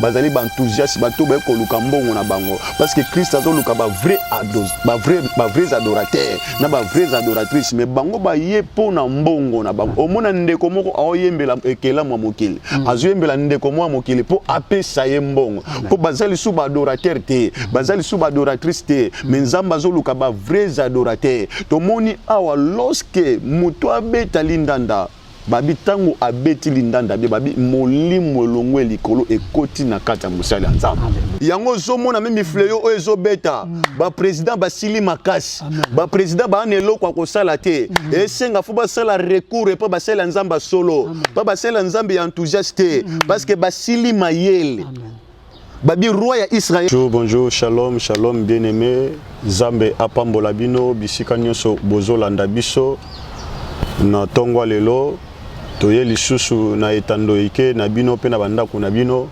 bazali ba enthousiaste bato baye koluka mbongo na bango parce que christ azoluka ba vrai ba vrai ba vrais adorateur na ba vrais adoratrice mais bango baye mpo na mbongo na bango omona ndeko moko aoyembela ekelamu ya mokili mm. azoyembela ndeko moko ya mokili mpo apesa ye mbongo mpo baza lisusu ba adorateur te baza lisusu ba adoratrice te mais nzambe azoluka ba vrais adorateur tomoni awa lorsque moto abeta lindanda Babi ntango abeti lindanda bie babi molimo elongwe likolo ekoti na kati ya mosali ya nzambe yango ozomona meme fleo oyo ezobeta mm. baprésident basili makasi baprésident baa na eloko ya kosala te mm. esenga fo basala recours epo basali ya nzambe ya solo mpo basali ya nzambe ya enthousiaste te mm. parce que basili mayele Amen. babi roi ya Israël. Bonjour, bonjour, shalom, shalom bien-aimé. Zambe apambola bino bisika nyonso bozolanda biso na tongwa lelo toye lisusu na etando ike na bino mpe na bandako na bino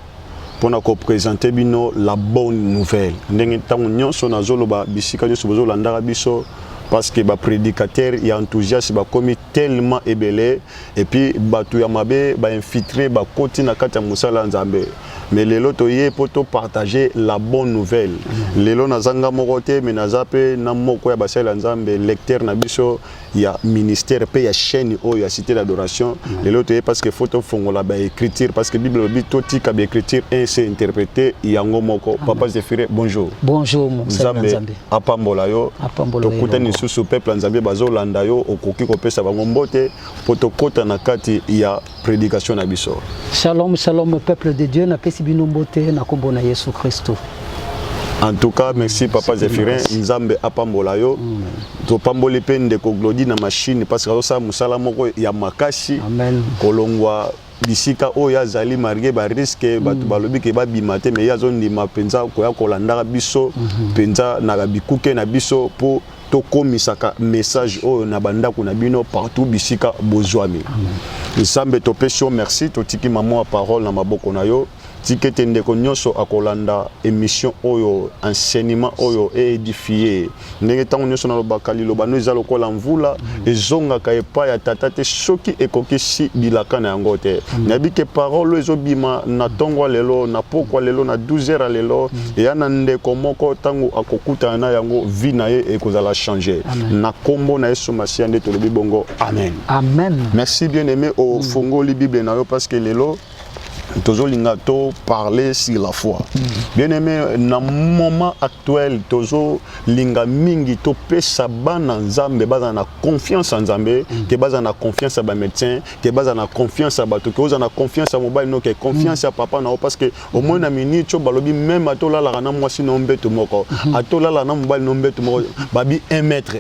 mpo na kopresente bino la bonne nouvelle ndenge ntango nyonso nazoloba bisika nyonso bozolandaka biso parce que baprédicateur ya enthousiaste bakomi tellement ebele et puis bato ya mabe ba infiltre ba koti na kati ya mosala ya Nzambe mais lelo toye po to partager la bonne nouvelle mm. lelo nazanga moko te mais naza pe na moko ya basali ya Nzambe lecteur na biso ya ministère pe ya chaîne oyo ya cité d'adoration mm. lelo toye parce que faut to fongola ba écriture parce que bible lobi to tika ba écriture et c'est interprété yango moko papa Zephyre bonjour bonjour Nzambe apambola yo tokutani lisusu peuple ya nzambe bazolanda yo okoki kopesa bango mbote mpo tokɔta na kati ya prédication na biso shalom shalom peuple de dieu napesi bino mbote na nkombo na yesu kristo en tout cas merci papa zephirin nzambe apambola yo mm. topamboli mpe ndeko glodi na machine parce que azosala mosala moko ya makasi kolongwa bisika oyo azali marge ba risque bato mm. balobi ke babima te mais ye azondima mpenza koya kolandaka biso mhm. mpenza na bikuke na biso mpo tokomisaka message oyo na bandako na bino partout bisika bozwami nzambe topesi yo merci totiki mama ya parole na maboko na yo Tika ete ndeko nyonso akolanda emission oyo enseignement oyo e edifier ndenge ntango nyonso nalobaka liloba no eza lokola mvula mm. ezongaka epai ya tata te soki ekokisi bilaka na yango te mm. nayebi ke parole oyo ezobima na ntongo ya lelo na pokwa lelo na 12 heures ya lelo mm. eya na ndeko moko ntango akokutana na yango vie na ye ekozala change na nkombo na yesu masiya nde tolobi bongo amen amen merci bien aime ofungoli bible na yo parce que lelo tozolinga to parler sur la foi mm. bien aimé na moment actuel tozolinga mingi topesa bana nzambe bazala na confiance ya nzambe mm. ke bazala na confiance ya bamédecin ke bazala na confiance ya bato ke ozala na confiance ya mobali no ke confiance ya mm. papa na yo parce que omoi na minute oyo balobi meme atolalaka na mwasi na yo mbeto moko mm-hmm. atolala na mobali na yo mbeto moko babi un mètre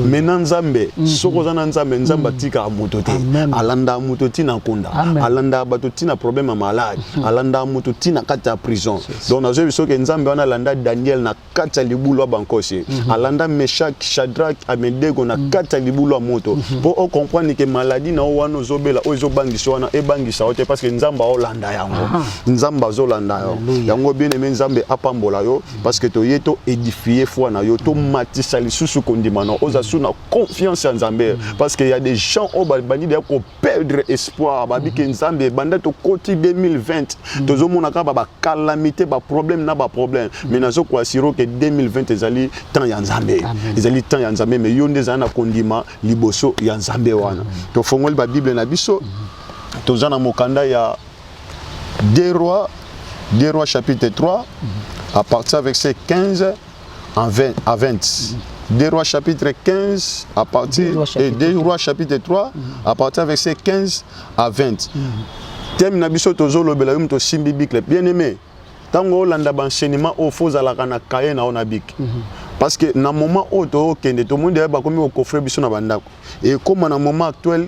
me na nzambe mhm. soki oza na nzambe nzambe mhm. atikaka moto te alandaka moto ntina akonda alandaka bato ntina problème ya malade mhm. alandaka moto ntina kati ya prison donc nazwi biso ke nzambe wana alanda daniel na kati ya libulu ya bankosi alanda meshak shadrak amedego na kati ya libulu ya moto mpo ocomprendre ke maladi na yo wana ozobela oyo ezobangisa wana ebangisa yo te parce que nzambe aolanda yango nzambe azolanda yo yango bien aime nzambe apambola yo parce que toye to édifier foi na yo to matisa lisusu kondima na oza su na confiance ya nzambe mm. parce que ya des gens oyo babandi deya koperdre espoir babi ke mm. nzambe banda tokoti 2020 mm. tozomona kaka bacalamité baproblème na baproblème mais nazo koasiro ke 2020 ezali temps ya nzambe ezali temps ya nzambe mais yo nde ezali na kondima liboso ya nzambe wana tofongoli babible na biso toza na mokanda ya Deux rois, deux rois chapitre 3, à partir avec ces 15 en 20, à 20. Deux rois chapitre 15 à partir Deux rois, et chapitre deux rois chapitre 3 à partir avec ces 15 à 20. Thème na biso tozolobela yo moto osimbi bikle bien aimé ntango olanda baenseignement oyo fo ozalaka na kaye na yo na bike parce que na moment oyo tookende tomoni deya bakomi kokofre biso na bandako ekóma na moment actuel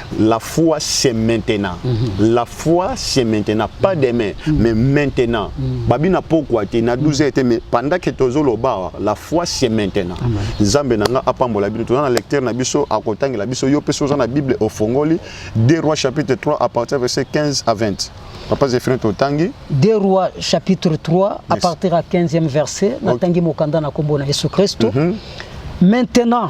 La foi, c'est maintenant. Mm -hmm. La foi, c'est maintenant. Pas mhm. demain, mm -hmm. mais maintenant. Mm -hmm. Babina pourquoi tu na 12 été, mais pendant que tu es bar, la foi, c'est maintenant. Zambe nanga apambola bino. Tu as lecteur na biso, à côté la biso, yo peso dans la Bible au Fongoli, 2 Rois chapitre 3 à partir verset 15 à 20. Papa Zéphirin Totangi. 2 Rois chapitre 3 yes. à partir à 15e verset, na tangi mokanda na kombo na Yesu Christo. Mm -hmm. Maintenant,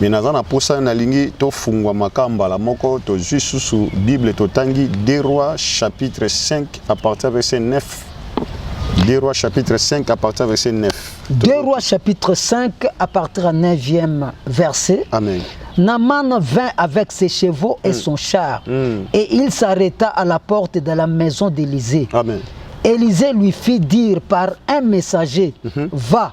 mais naza na posa nalingi tofungwama ka mbala moko tozwi susu bible totangi 2 roi chapitre 5 à partir verset 9 2 roi chapitre 5 à partir verset 9 2 roi chapitre 5 à partir 9e verset amen Naman vint avec ses chevaux et mm. son char, mm. et il s'arrêta à la porte de la maison d'Élysée. Élisée lui fit dire par un messager, mm -hmm. va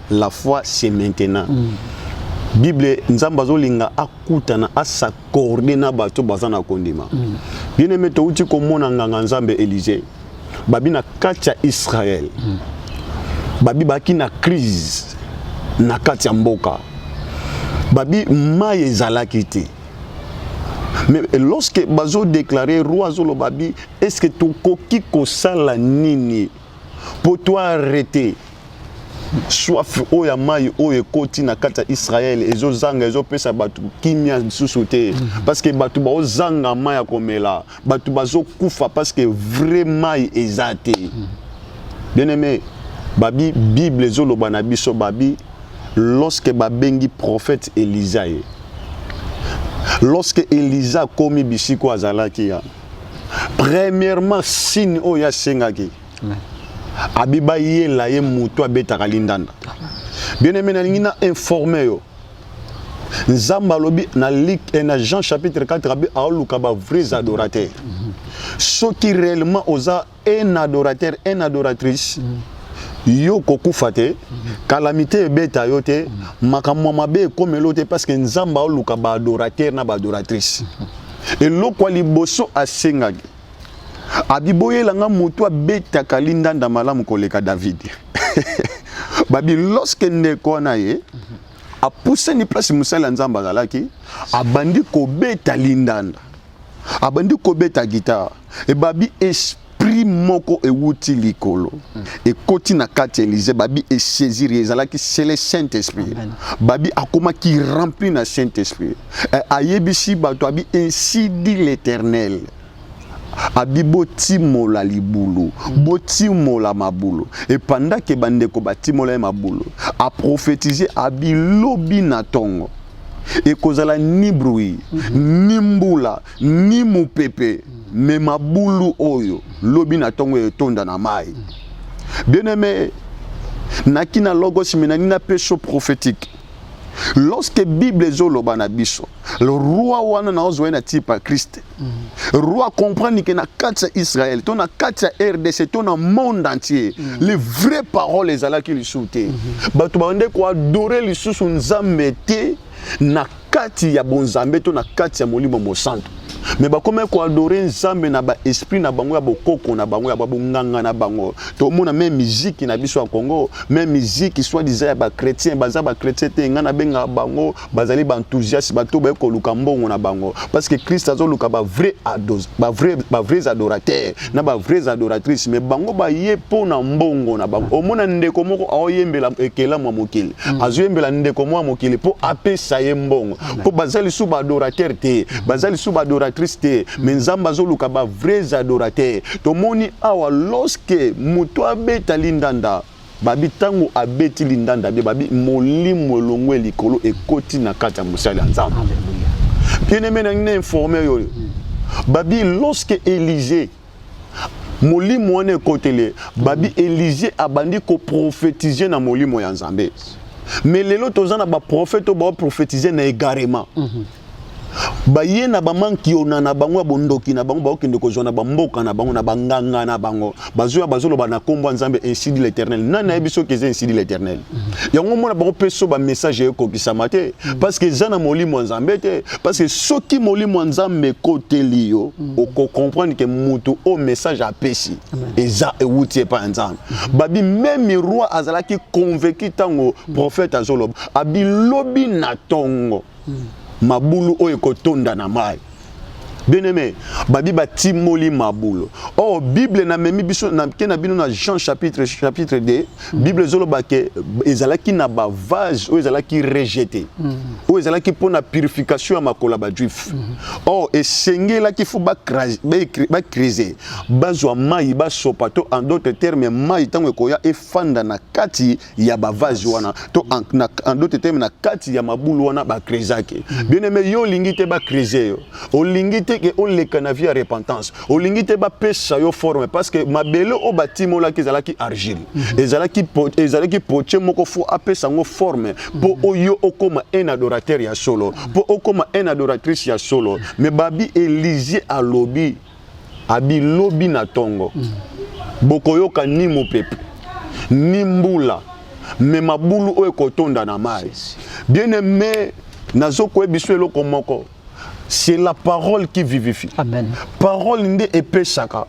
la foi c'est maintenant mm. bible nzambe azolinga akutana asakorde na bato baza na kondima mm. bien aime touti komona nganga nzambe élysée babi na kati ya israel mm. babi baki na crise na kati ya mboka babi mai ezalaki te mais lorsque bazo déclarer roi azoloba bi est ce que tokoki kosala nini Pour toi arrêter soif oyo ya mai oyo ekoti na kati ya israele ezozanga ezopesa bato kimia lisusu te mhm. parceke bato baozanga mai ya komela bato bazokufa parceke vrai mai eza te mhm. bien aimé babi bible ezoloba na biso babi lorsque babengi prophète elisa ye lorsque elisa akomi bisiko azalaki ya premièrement signe oyo asengaki abiba yela ye motu abetaka lindanda bien aimé nalingi na informe yo nzambe alobi na like eh, na jean chapitre 4 abi aoluka bavrais adorateur soki réellement oza un adorateur un adoratrice mm. yo kokufa te kalamite ebeta yo te makambo mabe ekomeli te parce que nzambe aoluka baadorateur na baadoratrice eloko ya liboso asengaki abiboyela nga motu abetaka lindanda malamu koleka david babi loske ndeko wana ye apusani place mosali ya nzambe azalaki abandi kobeta lindanda abandi kobeta guitare ebabi esprit moko ewuti likolo mm. ekoti na kati ya elize babi esaisir ezalaki sele saint esprit babi akomaki rempli na saint esprit eh, ayebisi bato abi ainsi dit l'éternel abi botimola libulu botimola mabulu epandake bandeko batimola ye mabulu aprofetize abi lobi na ntongo ekozala ni bruit mhm. ni mbula ni mopepe mhm. me mabulu oyo lobi na ntongo etonda na mai mhm. bien aime naki na logos me nani na peso prophétique lorsque bible ezoloba na biso roi wana naozwa ye na tipa kriste roi comprendre que na kati ya israel to na kati ya rdc to na monde entier mm. les vraies paroles ezalaki lisusu te mm -hmm. bato babande koadore lisusu nzambe te na kati ya bonzambe to na kati ya molimo mosantu me bakomaki koadore nzambe na baesprit na bango ya bokoko na bango ya babonganga na bango tomona me miziki na biso ya congo me miziki soit disa ya bachrétien baza bachrétien te ngai nabengaka bango bazali ba enthousiaste bato baye koluka mbongo na bango parce que Christ azoluka ba vrai ados ba vrai ba vrais adorateurs na ba vrais adoratrices mais bango baye mpo na mbongo na bango omona ndeko moko aoyembela ekelamu ya mokili mm. azoyembela ndeko moko ya mokili mpo apesa ye mbongo mpo baza lisusu ba adorateur te baza lisusu ba adoratrice te mm. mais nzambe azoluka ba vrais adorateurs tomoni awa lorsque moto abeta lindanda Babi ntango abeti lindanda bie, babi molimo elongwe likolo ekoti na kati ya mosali ya Nzambe. Bien aimé na ngi na informe yo oyo. Babi lorsque Elisée molimo wana ekotele, babi Elisée abandi ko prophétiser na molimo ya Nzambe. Mais lelo toza na ba prophètes oyo ba prophétiser na égarement. Mm -hmm. baye na bamankiona na bango ya bondoki na bango bakokende kozwa na bamboka na bango na banganga na bango bazoya bazoloba na nkombo ya nzambe insidi l'éternel nani ayebi soki eza insidi l'éternel mhm. yango mona bango mpe so bamessage ekokisama te mhm. parce que eza na molimo ya nzambe te parce que soki molimo ya nzambe ekoteli yo mhm. okocomprendre ke motu oyo message apesi eza ewuti epai ya nzambe babi meme roi azalaki convaincu ntango prophète azoloba abi lobi na ntongo mabulu oyo ekotonda na mai bien aimé babi batimoli mabulo or oh, bible namemi biso nake na bino na jean chapitre chapitre 2 bible ezoloba ke ezalaki na bavase oyo ezalaki rejete mm-hmm. oyo ezalaki mpo na purification ya makolo ya bajuif or mm-hmm. oh, esengelaki fo bakrise bazwa mai basopa to en d'autres terme mai ntango ekoya efanda na kati ya bavase wana to en d'autres termes na kati ya mabulu wana bakrezaki mm. bien aime yo olingi te bakreze yo olingi te ke oleka na vie ya repentance olingi te bapesa yo forme parce que mabele oyo batimolaki ezalaki argile mm-hmm. ezalaki ezalaki poche moko fo apesa yango forme mpo mm-hmm. oyo okoma un adorateur ya solo mpo mm-hmm. okoma un adoratrice ya solo mais babi elizier alobi abi lobi na tongo mm. bokoyoka ni mopepe ni mbula me mabulu oyo ekotonda na mai bien aime nazokoyebi biso eloko moko c'est la parole qui vivifie Amen. parole nde epesaka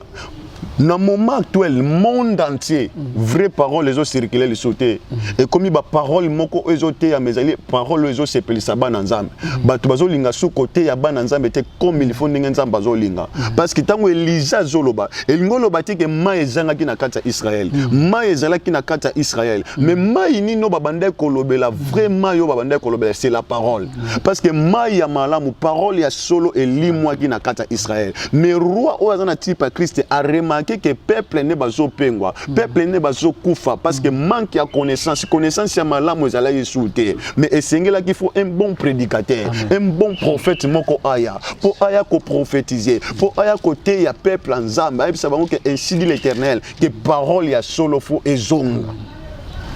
na moment actuel monde entier mm. vraie parole ezocircule lisusu te mm. ekomi baparole moko oyo ezoteyama ezali parole oyo ezosepelisa bana nzambe mm. bato bazolinga su koteya bana nzambe te comme il faut ndenge nzambe azolinga mm. parce que ntango elija azoloba elingi oloba te ke mai ezangaki na kati ya israel mm. mai ezalaki na kati ya israel mm. mais mai nini oyo babandaki kolobela vrai mai oyo babandaki kolobela c'est la parole parce que mai ya malamu parole ya solo elimwaki na kati ya israel mais roi oyo aza na type ya kriste aremake ke peuple nde bazopengwa peuple nde bazokufa parce que manque ya connaissance connaissance ya malamu ezalaki esu te mais esengelaki faut un bon prédicateur un bon prophète moko aya mpo aya koprophétise mpo aya koteya peuple ya nzambe ayebisa bango ke ainsi dit l'éternel ke parole ya solo fo ezonga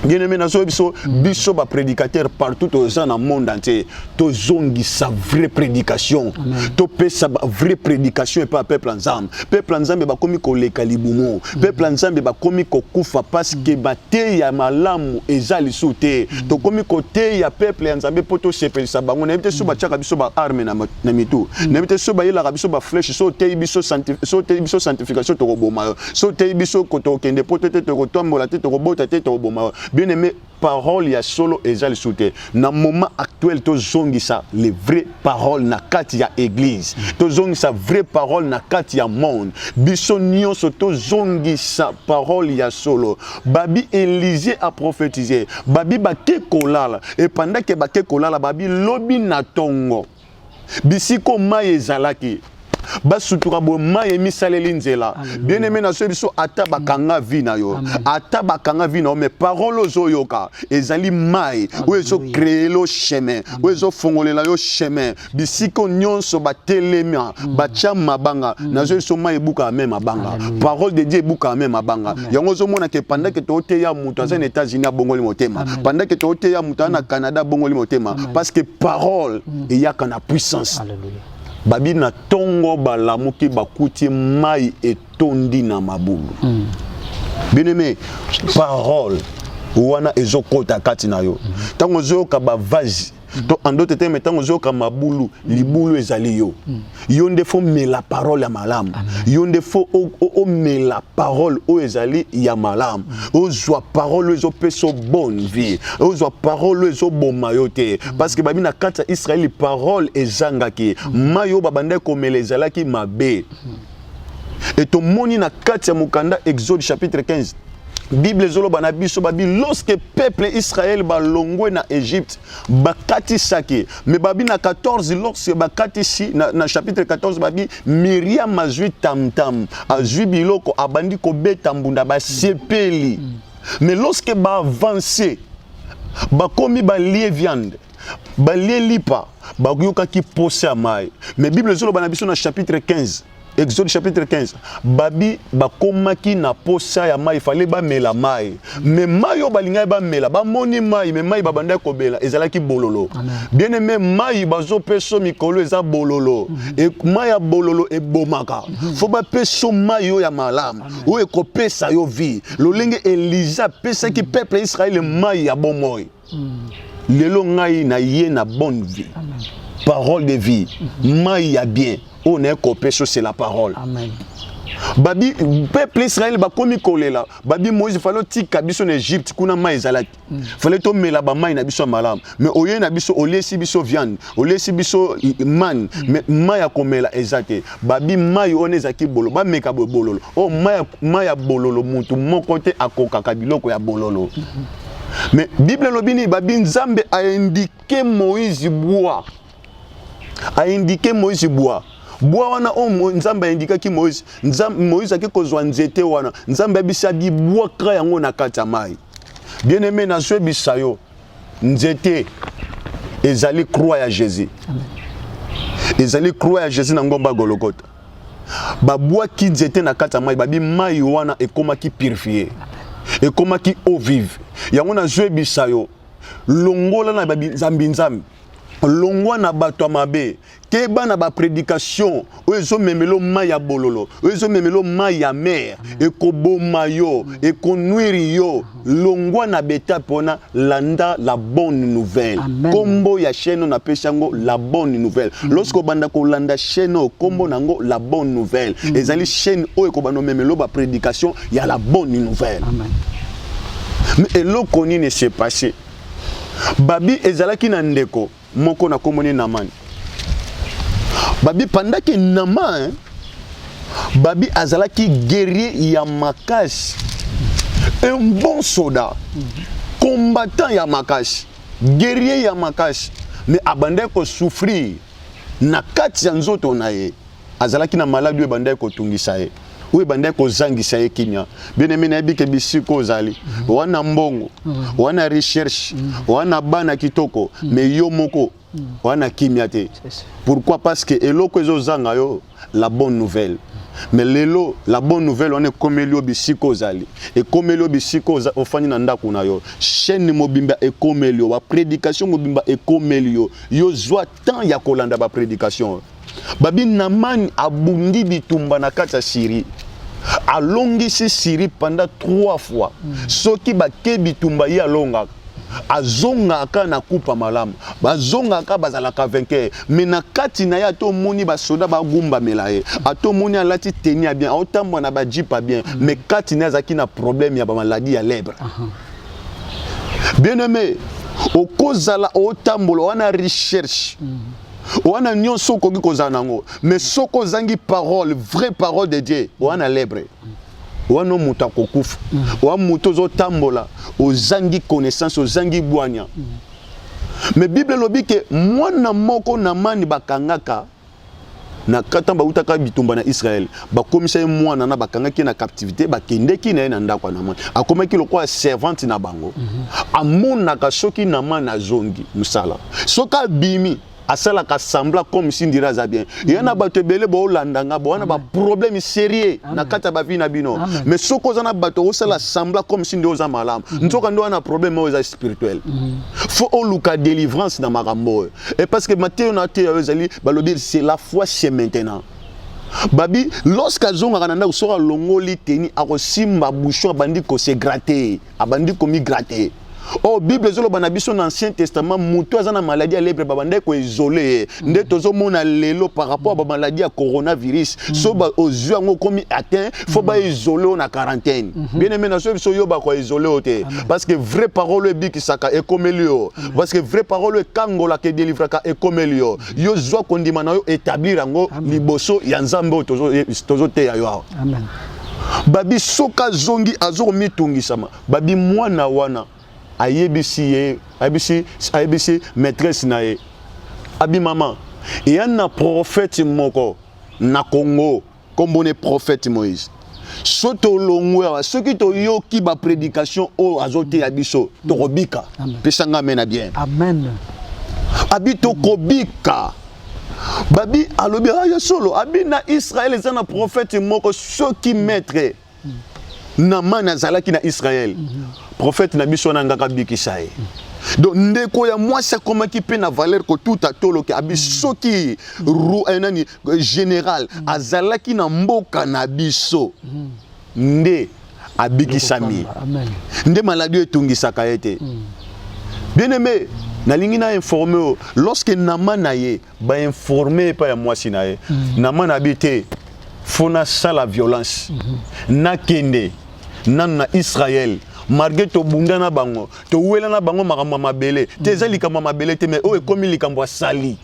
bien-aimé nazoyebi biso biso baprédicateur partout toza na monde entier tozongisa vraie prédication topesa vraie prédication epai ya peuple ya nzambe peuple ya nzambe bakomi koleka libumu peuple ya nzambe bakomi kokufa parce que teya malamu eza lisusu te mm. tokomi koteya peuple ya nzambe mpo tosepelisa bango nayebi te so mm. batyaka biso baarme na mitu mm. nayebi te so bayelaka biso bafleshe so oteyi biso sanctification tokoboma yo so oteyi biso kotokende mpo te te tokotombola te tokobota te tokoboma yo bien aime parole ya solo eza lisusu te na moment actuel tozongisa les vraies paroles na kati ya église tozongisa vraie parole na kati ya monde biso nyonso tozongisa parole ya solo babi élisée a prophétisé babi bake kolala epandake bake kolala babi lobi na tongo bisiko mai ezalaki basutuka boye mai emisaleli nzela bien aime na soki biso ata bakanga vi na yo ata bakanga vi na yo mais parole ozoyoka ezali mai oyo ezokreelo chemin oyo ezofongolela yo chemin bisiko nyonso batelema mm. batya mabanga mm. nazo biso mai ebukaka me mabanga parole de dieu ebukaka me mabanga yango ozomona ke pandake tooteya moto aza na mm. états-unis abongoli motema pandake tooteya moto aza na canada abongoli motema parce que parole mm. eyaka na puissance Alléluia. babi na ntongo balamuki bakuti mai etondi na mabulu mm. bien-aimé parole wana ezokota kati na yo ntango ozoyoka bavase to andote te me ntango ozoyoka mabulu libulu ezali yo yo nde fo mela parole ya malamu yo nde fo omela parole oyo ezali ya malamu ozwa parole oyo ezopesa bonne vie ozwa parole oyo ezoboma yo te parce que babi na kati ya israeli parole ezangaki mai oyo babandaki komela ezalaki mabe e tomoni na kati ya mokanda exode chapitre 15 bible ezoloba na biso babi lorsque peuple israel balongwe na egypte bakatisaki me babi na 14 lorsque bakatisi na, na chapitre 14 babi miriam azwi tamtam azwi biloko abandi kobeta mbunda basepeli mm. mais lorsque baavance bakomi balie viande balie lipa bayokaki mposa ya mai mais bible ezoloba na biso na chapitre 15 Exode chapitre 15 babi bakomaki na posa ya mai fale bamela mai me mai oyo balingaki bamela bamoni mai me mai babandaki kobela ezalaki bololo bien aime mai bazopeso mikolo eza bololo mhm. e, mai ya bololo ebomaka mhm. fo bapeso mai oyo ya malamu oyo ekopesa yo vie lolenge eliza apesaki mhm. peuple ya israele mai ya bomoi lelo ngai na ye na bonne vie parole de vie mai ya bien oyo naye kopeso c'est la parole Amen. babi peuple israel bakomi kolela babi moïse fale otika biso na egypte kuna mai ezalaki mm. fale tomela bamai na biso ya malamu me oye na biso oliesi biso viande oliesi biso mane me mm. mai ya komela eza te babi mai wana ezalaki bololo bameka boye bololo oyo oh, mai ya bololo motu moko te akokaka biloko ya bololo mm-hmm. Mais Bible elobi nini babi Nzambe a indiqué Moïse bois. A indiqué Moïse bois. Bois wana o oh, Nzambe a indikaki Moïse. Nzambe Moïse ake kozwa nzete wana. Nzambe abisa bi bois kra yango na kati ya mai. Bien aimé na zwe bisayo. Nzete ezali croix ya Jésus. Amen. ezali croix ya jésus na ngomba gologota babwaki nzete na kati ya mai babi mai wana ekomaki purifie ekomaki eau vive yango nazoyebisa yo longola na banzambinzambi longwa na bato ya mabe keba na bapredikation oyo ezomemelo mai ya bololo oyo ezomemelo mai ya mer ekoboma yo ekonwiri yo longwa na betape wana landa la bonne nouvelle kombo ya chaine na pesa ngo la bonne nouvelle mm. lorsque obanda kolanda chaine oyo kombo na ngo la bonne nouvelle mm. ezali chaine oyo ekobanda omemelo ba prédication ya la bonne nouvelle mais eloko nini se passe babi ezalaki na ndeko moko na kombo ne Naman babi pandaki Naman babi azalaki guerrier ya makasi un bon soldat combattant ya makasi guerrier ya makasi mais abandaki kosouffrir na kati ya nzoto na ye azalaki na maladi oyo ebandaki kotungisa ye oyo ebandaki kozangisa ye kimia bien-aime nayebi ke bisika ozali mhm. wana mbongo mhm. wana recherche mhm. wana bana kitoko me yo moko wana kimia te pourquoi parce que eloko ezozanga yo la bonne nouvelle mais lelo la bonne nouvelle wana ekomeli yo bisika ozali ekomeli yo bisika ofandi na ndako na yo chaîne mobimba ekomeli yo baprédication mobimba ekomeli yo yo zwa temps ya kolanda ba prédication babi namani abundi bitumba na kati ya syrie alongisi syrie pendant trois fois mm. soki bake bitumba ye alongaka azongaka na kupa malamu bazongaka bazalaka vainqueur me na kati na ye ata omoni basoda bagumbamela ye ata omoni alati teni ya bien aotambwa na bajipa bien me kati na ye azalaki na problème ya bamaladi ya lebre bien aime okozala otambola wana recherche mm -hmm. wana nyonso okoki kozala nango mais soki ozangi parole vraie parole de dieu wana lebre wana moto akokufa wana moto ozotambola ozangi connaissance ozangi bwanya mais bible elobi ke mwana moko na mani bakangaka na kata bautaka bitumba na Israël bakomisa ye mwana na bakangaki na captivité bakendeki na ye na ndako ya Naman akomaki lokola servante na bango mm -hmm. amonaka soki Naman azongi mosala soki abimi asalaka sembla comme si ndira aza bien mhm. ye na bato ebele boolanda nga bowana baproblème sérieux na kati ya bavi na bino mais soki oza na bato osala mhm. sembla comme si nde oza malamu mhm. nzoka nde wana problème oyo eza spirituel fo oluka délivrance na makambo oyo Et parce que Matthieu n'a été ezali balobi c'est la foi c'est maintenant. Babi lorsque azonga kananda usora longoli teni akosimba bouchon abandi ko se gratter, abandi ko mi gratter. Oh Bible zolo bana biso na Ancien Testament mutu aza na maladie ya lèpre babandaki ko isoler nde tozomona lelo par rapport ba maladie ya coronavirus mm. so ba ozwi yango okomi atteint faut ba isoler na quarantaine mm-hmm. bien aimé na so biso yo ba ko isoler te parce que vraie parole ebikisaka ekomeli yo mm. parce que vrai parole ekangola ke delivraka ekomeli yo mm. yo zwa kondima na yo établir yango liboso ya nzambe oyo tozoteya yo awa babi soki azongi azokomitungisama babi mwana wana ayebisi ye ayebisi ayebisi maîtresse na ye abi mama eya na prophète moko na congo nkombo ne prophète moïse so tolongwe awa soki toyoki baprédication oyo azoteya biso tokobika pesa nga amena bien amen abi tokobika babi alobi ah, ya solo abi na israele eza na prophète moko soki maître Namane azalaki na Israël. Prophète na biso wana ngaka bikisa ye. Donc ndeko ya mwasi akomaki mpe na valeur kotuta tolo ke abi soki eh, nani eh, général azalaki na mboka na biso nde abikisami nde maladi etungisaka ye te bien aimé nalingi na informe lorsque nama na ye ba informer epai ya mwasi na ye mm. na mana bi te fo nasala violence mm -hmm. nakende nanu na israel malgré tobunda na bango towela na bango makambo ya mabele te eza likambo ya mabele te mais oyo ekomi likambo ya sali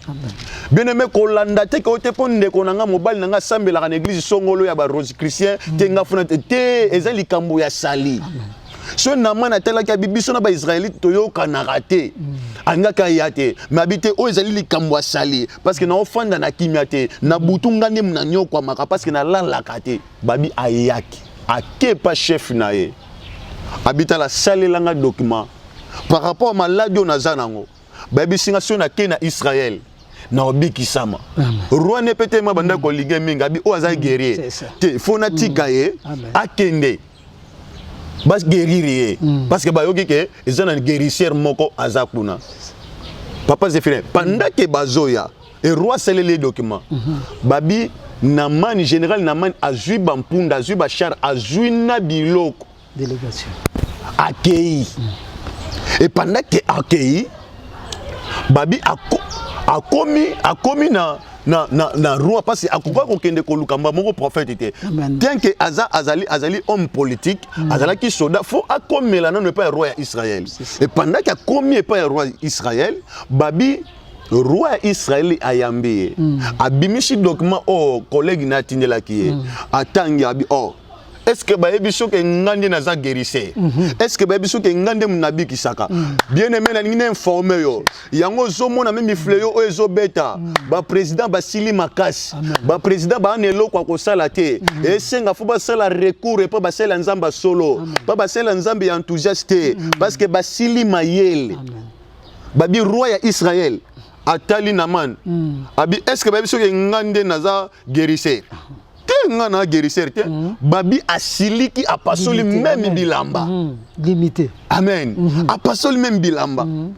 bien aime kolanda te keo te mpo ndeko na ngai mobali na ngai asambelaka na eglise songolo ya barose christian te nga funa te eza likambo ya sali Amen. so naman atalaki abi biso na baisraelite toyokanaka te mm. alingaki aya te me abi te oyo ezali likambo asali parceke naofanda na kimia te na mm. butu nga nde nanyokwamaka parceke nalalaka te babi ayaki akepa chef na ye abitala salela nga document par rapport ya maladi oyo naza nango bayebisi nga soki nakei na israele naobikisama rwanda mpe te ma bandaki mm. kolige mingi abi oyo aza guerrier te fo natika ye akende ba guérir ye mm. parce que bayoki ke eza na guérisseur moko aza kuna papa Zephyrin pendant que bazoya et roi asaleli ye document mm -hmm. babi namani général namani azwi bampunda azwi bachar azwi na biloko délégation akei mm. et pendant que akei babi ako, akomi akomi na na, na, na roi mpasi akokoki kokende koluka mba moko prophète te bien ke aza, azali, azali homme politique mm. azalaki soda fo akomela nano epai ya roi ya israel e pendaki akomi epai ya roi ya israel babi roi ya israeli ayambi ye mm. abimisi document oyo oh, collègue na atindelaki ye mm. atangi abi o oh, est ce que bayebi soki nga nde naza guérisseur mhm. est ce que bayebi soki nga nde nabikisaka mhm. bien aimé nalingi na informe yo yango ozomona me mifle yo oyo ezobeta mhm. baprésident basili makasi baprésident baa na eloko ya kosala te esenga fo basala recours epo basalela nzambe ya solo mpo basalela nzambe ya enthousiaste te parce que basili mayele babi roi ya israel atali naman abi est ce que bayebi soki nga nde naza guérisseur te nga na guérisseur te mm. babi asiliki apasoli meme bilamba mm. limité amen mm-hmm. apasoli meme bilamba mm.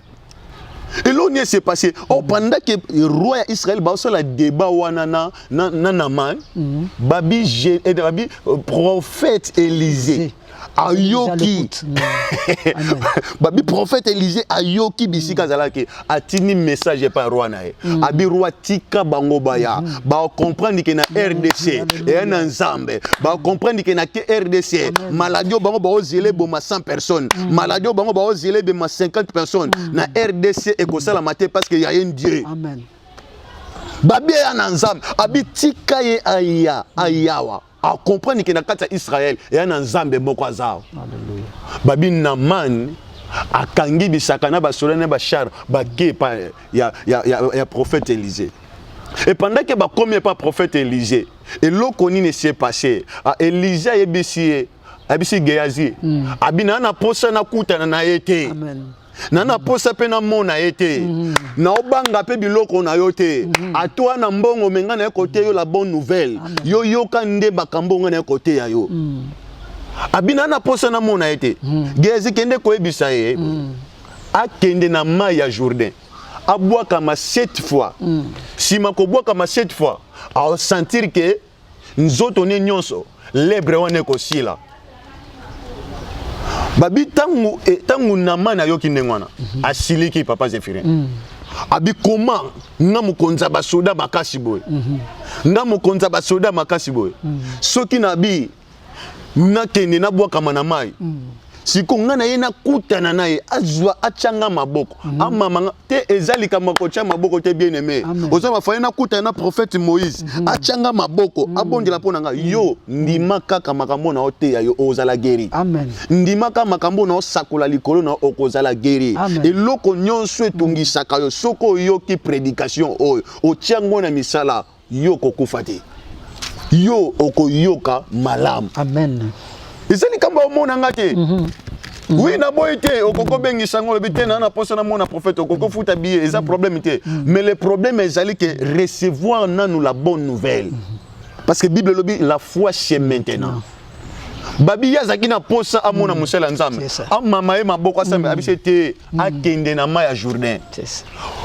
eloko nini ese passe o oh, pendant ke roi ya israel baosala débat wana na, na, na naman mm. babi, eh, babi euh, prophète élysée ayoki babi prophète Élisée ayoki bisika mm. azalaki atindi message epai roi na ye mm. abi roi tika bango baya mm. bakomprendre ke na rdc eya na nzambe bakomprendre ke na rdc maladi oyo bango baozela eboma 100 personnes maladi oyo bango baozela ebema 50 personnes na rdc ekosalama te parce que ya ye dieu Amen. babia ya na nzambe abitika ye aya ayawa a comprendre ke na kati ya israel eya na nzambe moko aza babi namani akangi bisaka na basoda na bashar bake epa ya, ya, ya, ya prophète élysée et pendant ke bakomi epa prophète élysée eloko nini esi epasse ah, élysée ayebisi ye abisi geyazi mm. abina na posa nakutana na ye te na na posa mpe namona ye te mhm. naobanga mpe biloko na yo te mhm. atwa na mbongo me ngai naye koteya yo la bonne nouvelle yo yoka nde makambo ngai naye koteya yo mhm. abina na posa namona ye te gezi kende koyebisa ye akende na mai ya jourdain abwakama 7 fois nsima kobwakama 7 fois aosentir ke nzoto ne nyonso lebre wana ekosila babi ntango ntango eh, namani ayoki ndenge wana mhm. asiliki papa zephirin mm. abi koma nga mokonzi ya basoda makasi boye mhm. nga mokonzi ya basoda makasi boye mm. soki nabi nakende nabwakama na mai mm. siko ngai na ye nakutana na ye azwa atyanga maboko mm -hmm. amamanga te eza likambo ya kotya maboko te bien aime oza bafale nakutana na prophète moïse mm -hmm. atyanga maboko mm -hmm. abondela mpo na ngai mm. yo ndima kaka makambo na oteya yo ozala geri ndima kaka makambo na osakola likolo na okozala geri eloko nyonso etungisaka yo soki oyoki prédication oyo otyango na misala yo okokufa te yo okoyoka malamu amen eza likambo omona nga te mm -hmm. Mm. oui naboyi te okoki obengisa yango olobi te naa na mposa namona prophète okoki ofuta biye eza mm. problème te mm. mais le problème ezali ke recevoir nanu la bonne nouvelle parce que bible elobi la foi c'est maintenant babi ye azalaki na mposa amona mm. mosali ya nzambe amama ye maboko asambela mm. abisi ete mm. akende na mai ya jourdain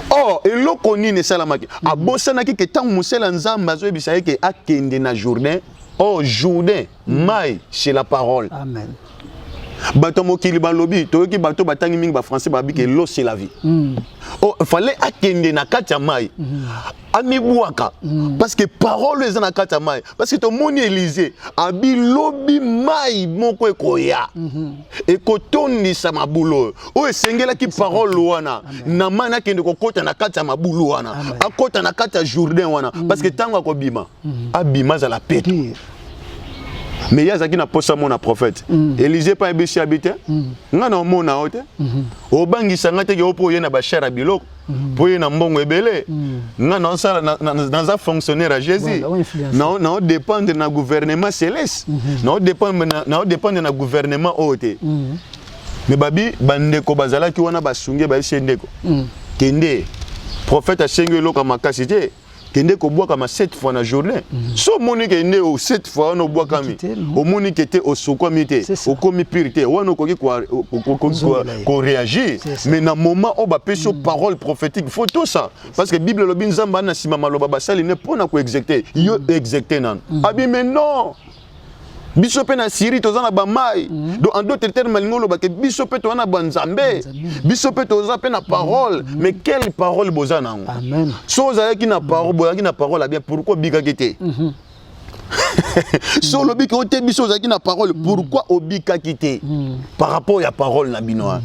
or eloko nini esalamaki abosanaki ke ntango mosali ya nzambe azoyebisa ye ke akende na jourdain or jourdain mai chez la parole Amen. bato ya mokili balobi toyoki bato batangi mingi bafrançais babi ke lo c'est la vie mm. oh, fallait akende na kati ya mai mm. amibwaka mm. parce que parole eza na kati ya mai parce que tomoni elize abi lobi mai moko ekoya mm -hmm. ekotondisa mabulu oyo oyo esengelaki parole wana na mai nakende kokɔta na kati ya mabulu wana akɔta na kati ya jourdain wana mm. parce que ntango akobima mm -hmm. abima azala peto mais ye azalaki na mposa mona prophète mm. elize mpe ayebisi abi te mm. ngai na omona yo te mm -hmm. obangisa ngai te ke yo mpo oye na bashare ya biloko Mm. mpo ye na mbongo ebele mm. nga naosala naza fonctionnaire ya jésus naodépendre na gouvernement céleste mm-hmm. naodépendre na gouvernement oyo te mm. me babi bandeko bazalaki wana basunge bayesi ye ndeko kende prophète asengi eloko ya makasi te kende kobwakama sept fois na jourdain mm. so omoni ke nde o sept fois wana obwakami omoni ke te osokwami te okomi pire te wana okoki koreagir mais na moment oyo bapesi yo mm. parole prophétique faut tout ça parce que bible elobi nzambe ana nsima maloba basali ne mpo na koexecte yo mm. execte nano abime non biso mpe na syrie toza na bamai mm. donc en d'autres termes malingi oloba ke biso mpe toza na banzambe biso mpe toza mpe na parole mm. mais quelle parole boza na yango so ozalaki na parole bozalaki na parole abien pourkui obikaki te mhm. so olobi ke ote biso ozalaki na parole mm. pourkui obikaki te par rapport ya parole na bino wana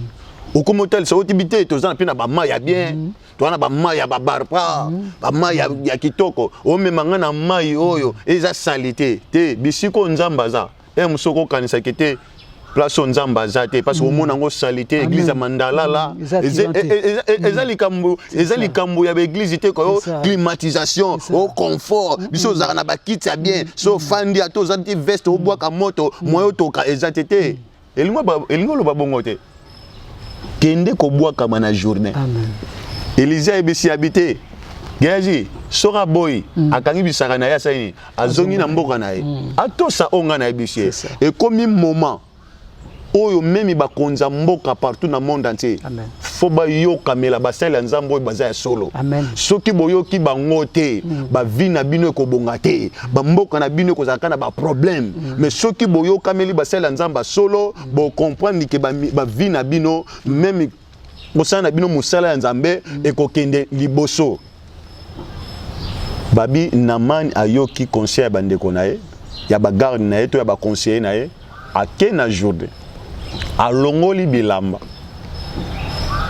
okomi otalisa otibi te toza mpe na bamai ya bien towana bamai ya babarpa mm. bamai ya, ya kitoko omema ngai na mai oyo eza sali te te bisika oyo nzambe aza e mosusu okokanisaki te place oyo nzambe aza te parce mm. omona yango sali te église ya mandalala mm. eza likambo eza likambo ya baeglise te koyo climatisation o confort biso ozalaka na bakiti ya bien so ofandi ata oza ti veste obwaka moto moyo otoka eza te te elingi oloba bongo te kende kobwakama na journée elizia ayebisi yabi te geazi soki aboyi mm. akangi bisaka na ye asali nini azongi na mboka na ye mm. atosa oyo ngai nayebisi ye ekomi moment oyo memi bakonza mboka partout na monde entier Amen. fo bayokamela basali ya nzambe oyo baza ya solo soki boyoki bango te mm. bavi na bino ekobonga te bamboka na bino ekozalaka na baproblème mm. mais soki boyokameli basali ya nzambe ya solo mm. bocomprendre ke bavi na bino meme mosala na bino mosala ya nzambe ekokende liboso babi namani ayoki conseil ya bandeko na ye ya bagarde na ye to ya baconseiller na ye ake na jourdain alongoli bilamba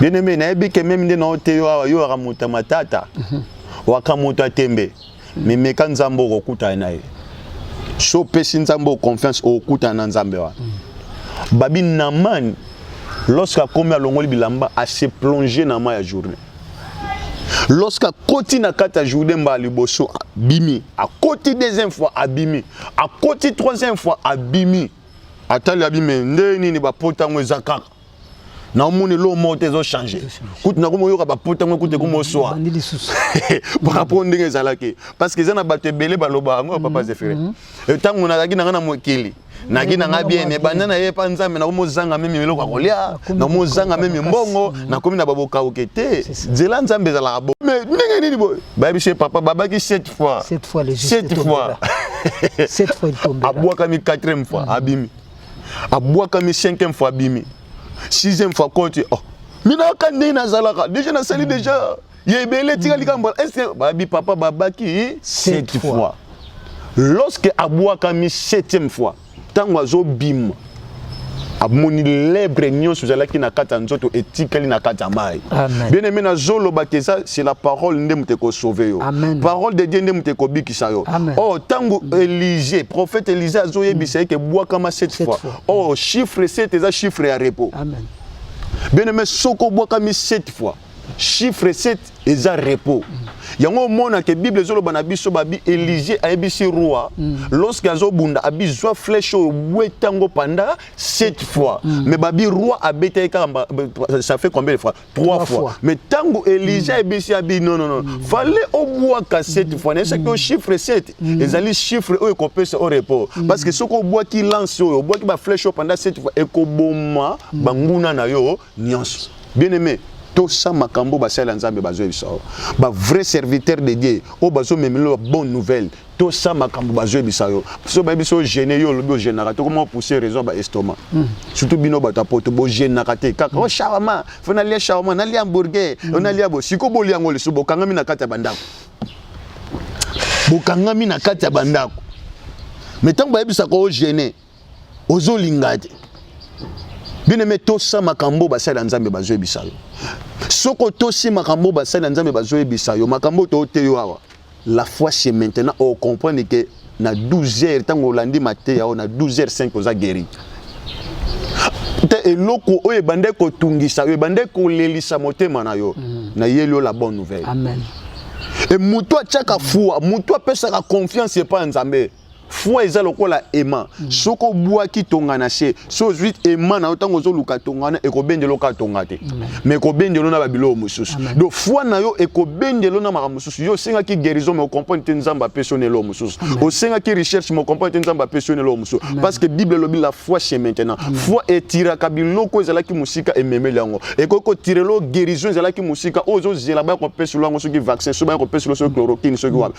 bien-aime nayebi ke meme nde na yo te yo awa yo waka moto ya matata mhm. waka moto ya tembe memeka nzambe okokutana na ye so opesi nzambe o confiance okokutana na nzambe wana mhm. babi namani lorsque akomi alongoli bilamba ase plonge na mai ya journée lorsque akoti na kati ya jourdain mbala liboso abimi akoti deuxième fois abimi akoti troisième fois abimi atali abimi nde nini bapota yango eza kaka naomoni eloko moko te ezochange kutu nakomi oyoka bapota yango kutu ekomi oswa parapo ndenge ezalaki parce que eza na bato ebele baloba yango papa mhm, zefere ntango mhm. eh, nazalaki na ngai na mokili nagi na ngai bien mais banda na ye pa nzambe nakomi ozanga meme eloko ya kolia nakomi ozanga meme mbongo nakomi na babokauke te nzela nzambe ezalaka bo mais ndenge nini boye bayebisi ye papa babaki 7 fois 7 fois 7 fois abwakami 4e fois mm. abimi abwakami 5e fois abimi 6e fois koti oh. minaka ndenge nazalaka deja nasali mm. deja mm. ya ebele etikali kaka mbala ese babi papa babaki sept fois lorsque abwakami septième fois ntango azobima amoni lebre nyonso ezalaki na kati ya nzoto etikali na kati ya mai bien aime nazoloba te eza c'est la parole nde moto ekosauve yo parole de dieu nde moto ekobikisa yo o oh, ntango élisée prophète élisée azoyebisa ye ke bwakama cette fois o oh, chiffre 7 eza chiffre ya repos bien aime soko obwakami cette fois chiffre 7 eza repos yango omona ke bible ezoloba na biso babi elisie ayebisi roi mm. lorsque azobunda abi zwa flèche oyo bweta ngo panda 7 fois mm. mais babi roi abeta ye kaka ça fait combien de fois 3 fois mais ntango elisie mm. ayebisi abi non non non mm. fale obwaka 7 mm. fois na esaki mm. chiffre 7 mm. ezali chiffre oyo ekopesa o repos mm. parce que soki obwaki lance oyo obwaki baflèche oyo panda 7 fois ekoboma mm. banguna na yo nionso bien aimé tosa makambo basali ya nzambe bazwa ebisa yo ba vrai serviteur de dieu oyo bazomemela ba bonne nouvelle tosa makambo bazwa ebisa yo so bayebi so gene yo olobi ogenaka te okoma opousse raison ya baestomac hmm. surtout bino bato ya poto bogenaka te kaka hmm. o oh, shawama fo nalia shawama nalia hamburger hmm. o nalia bo siko bolia yango lisusu bokangami na kati ya bandako bokangami na kati ya bandako me ntango bayebisaka ogene ozolinga te bien aimé tosa makambo basali ya nzambe bazoyebisa yo soki otosi makambo basali ya nzambe bazoyebisa yo makambo toote yo awa la foi c'est maintenant ocomprendre ke na 12 heures ntango olandi mateya oyo na 12 heures 5 oza guéri te eloko oyo ebandaki kotungisa yo ebandaki kolelisa motema na yo mm. nayeli yo la bonne nouvelle Amen. e moto atyaka fua moto apesaka confiance epai ya nzambe foi eza lokola ema mm. soki obwaki tonga na se so ozwi ema na yo ntango ozoluka tonga wana ekobendela oka tonga te ma ekobendela na babiloko mosusu do foi na yo ekobendela na makambo mosusu yo osengaki guérison ma okomprane te nzambe apesi yo na eloko mosusu osengaki recherche ma okomprane te nzambe apesi yo na eloko mosusu parce que bible elobi la foi chez maintenant foi etiraka biloko ezalaki mosika ememeli yango ekoki kotirelo guérison ezalaki mosika oyo ozozela baya kopeselo yango soki vaccin so baya kopeselo soki chloroquine soki wapi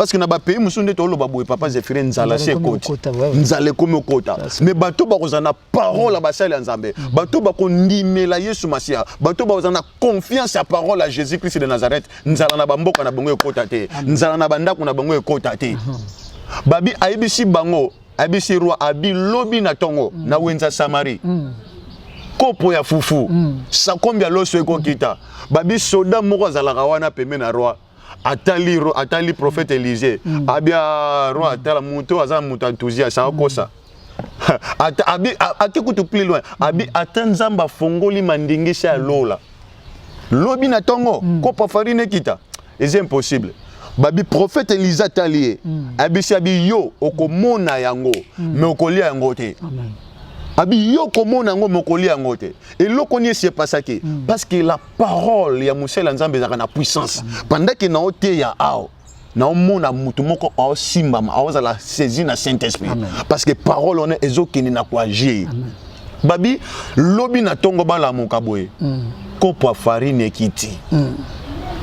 parce que na ba pays mususu nde toloba boye papa Zephyrin nzala se ekoti nzala ekomi okota mais bato bakozala na parole ya basali ya nzambe mm. bato bakondimela yesu masiya bato bakozala na confiance ya parole ya jésus christ de nazareth nzala na bamboka na bango ekota te nzala na bandako na bango ekota te mm-hmm. babi ayebisi bango ayebisi roi abi lobi na tongo mm. na wenza samari mm. kopo ya fufu sakombi ya loso ekokita babi soda moko azalaka wana pembe na roi atali atali prophète Élisée mm. abia roi atala moto aza moto enthousiaste akosa ata abi ake kutu plus loin abi ata nzambe afongoli mandingisi ya lola lobi na tongo mm. kopa farine ekita eza impossible babi prophète Élisée atali ye mm. abisi abi yo okomona yango mm. mais okolia yango te Amen. abi yo okomona yango mais okolia yango te eloko nini esi epasaki mm. parce que la parole ya mosali ya nzambe ezalaka na puissance pendant ke na oteya awa naomona moto moko aosimbama aozala saisi na saint esprit parce que parole wana ezokende na koagir babi lobi na ntongo balamuka boye mm. kopo ya farine ekiti mm.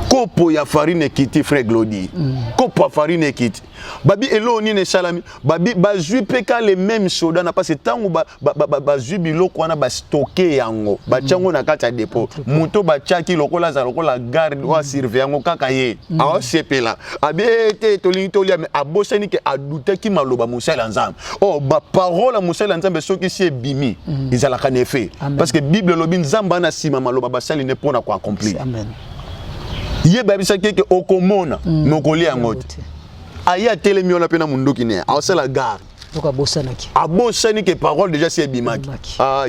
kopo ya farine ekiti frère glodi mm. kopo ya farine ekiti babi eloo nini esalami babi bazwi mpe ka le meme soda na mpasi ntango bazwi ba, ba, ba, ba biloko wana bastoke yango batya yango na kati ya depo moto batyaki lokola aza lokola garde oyo asurveille yango kaka ye mm. aosepela abi eh, te tolingi tolia me abosani ke adutaki maloba mosali ya nzambe o oh, baparole ya mosali ya nzambe soki si ebimi mm. ezalaka na effet parce que bible elobi nzambe ana nsima maloba basali nde mpo na koaccomplir ye bayebisaki eke okomona mm. me okolia yango te aye atelemi wana mpe na monduki ne aosala gare abosani ke parole déjà si ebimaki ah,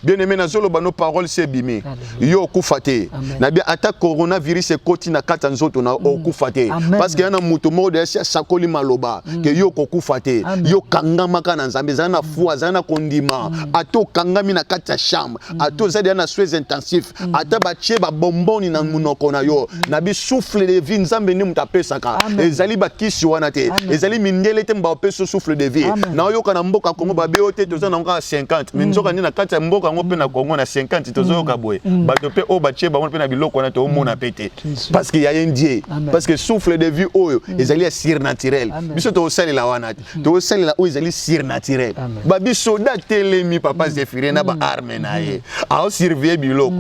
bien aimé nazoloba no parole si ebimi yo okufa te na bien ata coronavirus ekoti na kati ya nzoto na mm. okufa te parce que ya na moto moko deja si asakoli maloba mm. ke yo okokufa te yo okangamaka na nzambe ezali na mm. foi azali na kondima ata okangami na kati ya chambre ata ozali ya na soins intensif Mm. ata batie babomboni na monoko na yo mm. na bisouffle de vie nzambe nde moto apesaka ezali bakisi wana te ezali mindele te bapesi souffle de vie naoyoka na mboka kongo babe yo te toza nango kaka 50 me mm. nzoka nde na kati ya mboka yango mpe na kongo na 50 tozoyoka boye bato mpe oyo batie bango mpe na biloko wana toomona mpe te parce que ya ye ndie parce que souffle de vie oyo ezali ya surnaturel biso tokosalela wana te Hmm. tosalela oyo ezali surnaturel babisoda atelemi papa hmm. zefire na baarme hmm. na ye aosurveille biloko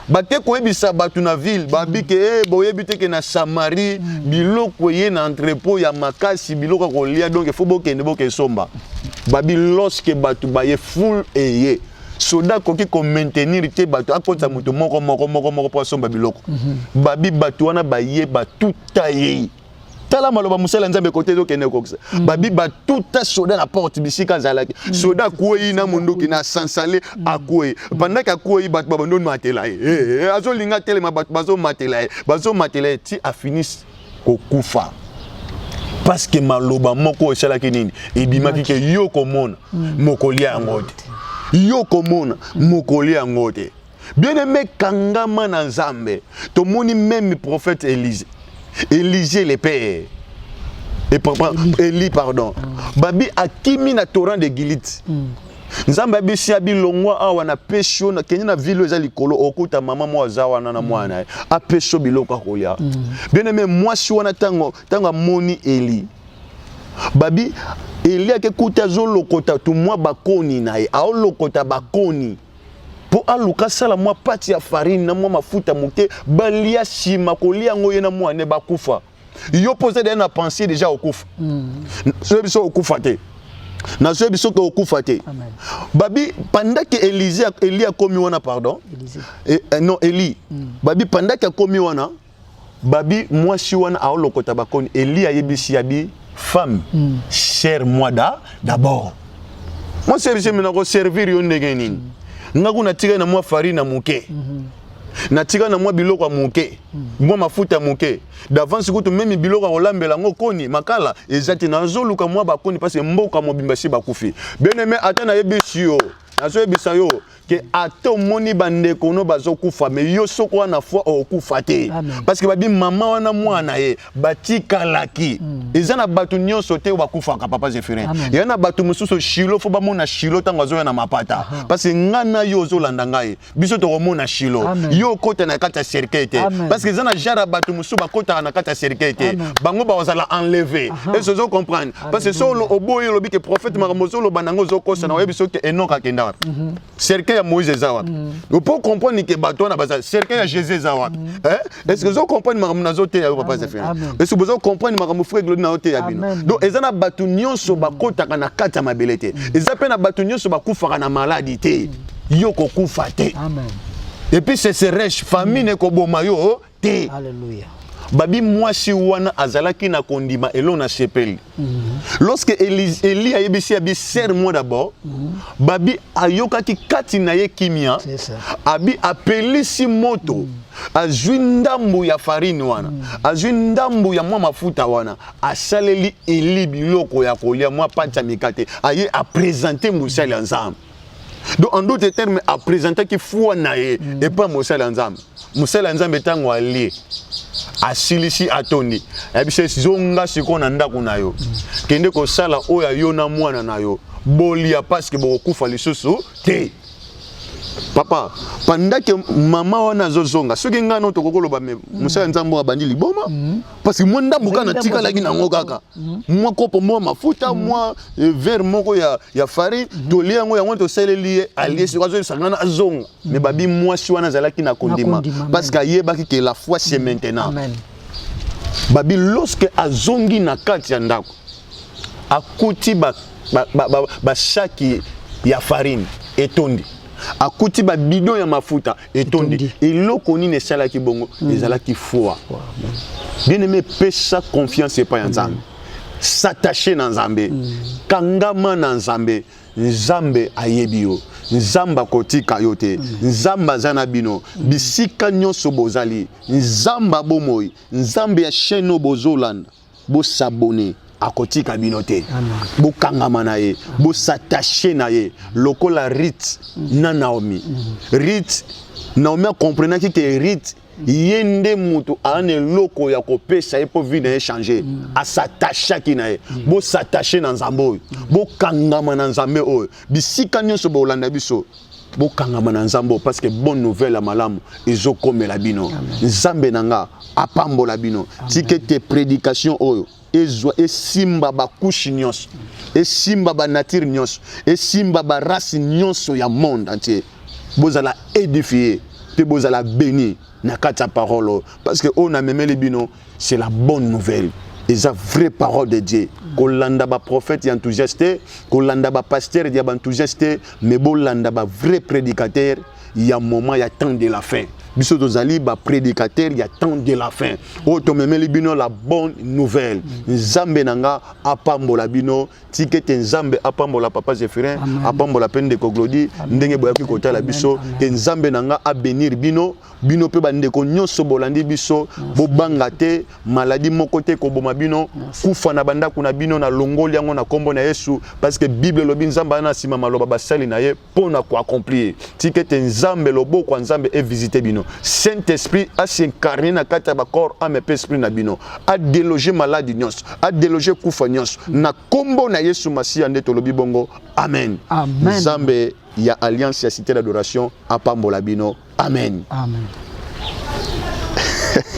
bake koyebisa bato na ville babike e eh, boyebi teke na samarie biloko eye na entrepot ya makasi biloko ya kolia donk efo bokende bokesomba babi loske bato baye ful eye soda akoki komaintenir te bato akotisa moto moko moko moko moko mpo asomba biloko babi bato wana baye batuta ye tala maloba mosala nzambe kote ezokende kokisa mm. babi batuta soda na porte bisika azalaki mm. soda akwei na monduki na sansale mm. akwei bandaki akwei bato babandi omatela ye eh, eh, azolinga atelema bato bazomatela ye bazomatela ye ti afinisi kokufa parce que maloba moko esalaki nini ebimaki ke yo komona mokoli yango te yo komona mokoli yango te Bien aimé kangama na Nzambe. Tomoni même prophète Élisée. Élisée le père. Et papa Élie pardon. Mm. Babi akimi na torrent de Gilite. Mm. nzambe abisi ya bilongwa awa na pesi yo nakende na vile eza likolo okuta mama moko aza wana na mwana ye apesi yo biloko akoya mm. bien aime mwasi wana ntango ntango amoni eli babi eli akekuta azolokota tumwa bakoni na ye aolokota bakoni mpo aluka asala mwa pati ya farine na mwa mafuta moke balia nsima kolia yango ye na mwana bakufa yo mpo oza deja na pensier deja okufa mm. soki biso okufa te nazwi biso ke okufa te babi pandaki elise eli akomi wana pardon e, eh, non eli mm. babi pandaki akomi wana babi mwasi wana aolokota bakoni eli ayebisi ya bi femme mm. cher moi da d'abord moi service mina ko servir yo ndenge nini mm. nga kuna tika na mwa farine na moke mm -hmm. na tika na mwa biloko ya moke mm. mwa mafuta ya moke d'avance kutu meme biloko ya kolambela yango koni makala eza te nazoluka mwa bakoni mpasi mboka mobimba si bakufi bien aime ata nayebisi yo nazoyebisa yo que ata omoni bandeko no bazokufa me yo soko wana foi okokufa te parce que babi mama wana mwana ye batikalaki mm. eza na bato nyonso te oyo bakufaka papa zephirin ya na bato mosusu shilo fo bamona shilo ntango azoya na mapata parce que ngai na yo ozolanda ngai biso tokomona shilo yo okota na kati ya cercueil te parce que eza na genre ya bato mosusu bakotaka na kati ya cercueil te bango bakozala enleve eso ozo comprendre parce que solo oboyi olobi ke prophète makambo ozoloba nango ozokosa na oyebi soki enok akenda wapi mhm. cercueil ya moïse eza wapi mhm. opo comprendre ke bato wana baza cercueil ya jésus eza wapi mhm. eh? est ce que ozo comprendre makambo nazoteya yo papa zefir est ce que bozo comprendre makambo frère glodi nazoteya bino donc eza na bato nyonso bakotaka na kati ya mabele te eza mpe na bato nyonso bakufaka na maladi te yo kokufa te et puis c'est serèche famine ekoboma yo te Alléluia. babi mwasi wana azalaki na kondima eloo na sepeli mm -hmm. lorsque eli, eli ayebisi abi serre moi d'abord mm -hmm. babi ayokaki kati na ye kimia abi apelisi moto mm -hmm. azwi ndambo ya farine wana mm -hmm. azwi ndambo ya mwa mafuta wana asaleli eli biloko ya kolia mwa pancha mikate aye apresente mosali ya nzambe donc en d'autres termes apresentaki foi na ye mm. epai mosali ya nzambe mosali ya nzambe ntango alie asilisi atondi ayebisi ye zonga sikoyo na ndako na yo mm. kende kosala oyo ya yo na mwana na yo bolia parceke bokokufa lisusu te papa pendant ke mama wana azozonga soki ngai no tokoki koloba mosala ya nzambe oyo abandi liboma mm. parce que mwa ndambo kaka natikalaki nango kaka mhm. mwa kopo mwa mafuta mhm. mwa eh, verre moko ya, ya farine mhm. tolie yango yango tosaleli ye alie soki azoyesangana azonga me babi mwasi wana azalaki na kondima parce que ayebaki ke la foi c'est maintenant babi lorsque azongi na kati ya ndako akuti bashaki ba, ba, ba, ba ya farine etondi akuti babido ya mafuta etondi eloko nini esalaki bongo mm. ezalaki foi bien aimé pesa confiance epai ya nzambe s'attache na nzambe mm. kangama na nzambe nzambe ayebi yo nzambe akotika yo te mm. nzambe aza na bino bisika nyonso bozali nzambe abomoi nzambe ya chaine oyo bozolanda Bo s'abonner. akotika bino te bokangama na ye bosattache na ye lokola rite na naomi rite naomi akomprenaki ke rite ye nde moto aa na eloko ya kopesa ye mpo vie na ye change asatachaki na ye bosattache na nzambe oyo bokangama na nzambe oyo bisika nyonso bolanda biso bokangama na nzambe parce que bonne nouvelle ya malamu ezokomela bino nzambe na nga apambola bino tike te prédication oyo ezwa esimba bakushe nyonso esimba banature nyonso esimba barace nyonso ya monde entier bozala édifie mpe bozala béni na kati ya parole oyo parce que oyo namemeli bino c'est la bonne nouvelle eza vraie parole de dieu kolanda baprophète ya enthousiaste te kolanda bapasteur ya baenthousiaste te mais bolanda bavrai prédicateur ya moment ya temps de la fin biso tozali baprédicateur ya temps de la fin oyo tomemeli bino la bonne nouvelle nzambe na nga apambola bino tika ete nzambe apambola papa zephirin apambola mpe ndeko glodi ndenge boyaki kotala biso te nzambe na nga abenir bino bino mpe bandeko nyonso bolandi biso bobanga te maladi moko te koboma bino kufa na bandako na bino na longoli yango na nkombo na yesu parce que bible elobi nzambe ana nsima maloba basali na ye mpo na koaccomplir tika ete nzambe loboko ya nzambe evisite bino saint esprit asincarne na kati ya bacor ame mpe esprit na bino adeloge maladi nyonso adeloge kufa nyonso na nkombo na yesu masiya nde tolobi bongo amen, amen. nzambe ya alliance ya cité d'adoration apambola bino amen, amen.